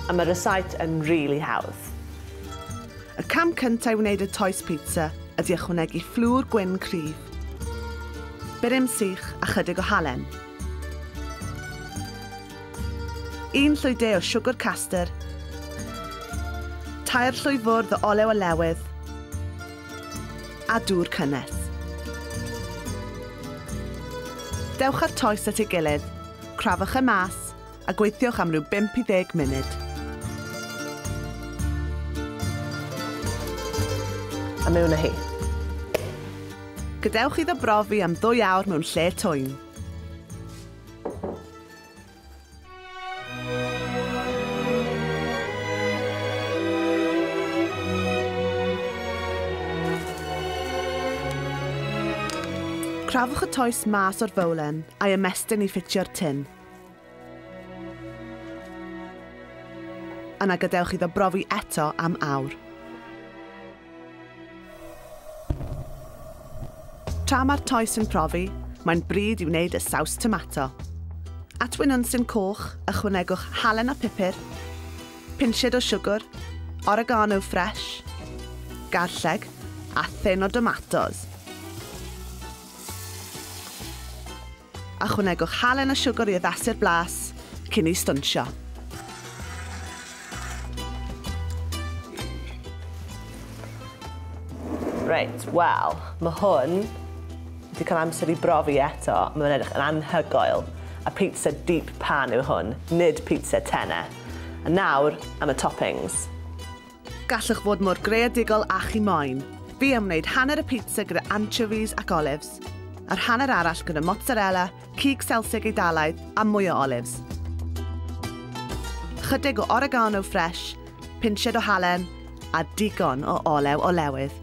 A ma rysáit yn rili hawdd. Y cam cynta i wneud y toes pizza ydi ychwanegu fflwr gwyn cryf, burum sych a chydig o halen. Un llwy de o siwgwr caster, tair llwy fwrdd o olew olewydd a dŵr cynnes. Dewch â'r toes at ei gilydd, crafwch e mas a gweithiwch am ryw 5 i 10 munud. A mewn â hi. Gadewch iddo brofi am ddwy awr mewn lle twyn. Crafwch y toes mas o'r fowlen a'i ymestyn i ffitio'r tin. Yna gadewch iddo brofi eto am awr. Tra mae'r toes yn profi, mae'n bryd i wneud y saws tomato. At wyn unsyn coch, ychwanegwch halen a phupur, pinsied o siwgr, oregano ffres, garlleg a thyn o domatos. Ychwanegwch halen a siwgr i addasu'r blas cyn ei stonsio. Reit, wel, mae hwn wedi cael amser i brofi eto. Mae fe'n edrych yn anhygoel. A pizza deep pan yw hwn, nid pizza tenne. A nawr am y toppings. Gallwch fod mor greadigol â chi moyn. Fi am wneud hanner y pizza gyda anchovies ac olives, a'r hanner arall gyda mozzarella, cig Selsig Eidalaidd a mwy o olives. Chydig o oregano ffresh, pinched o halen a digon o olew olewydd.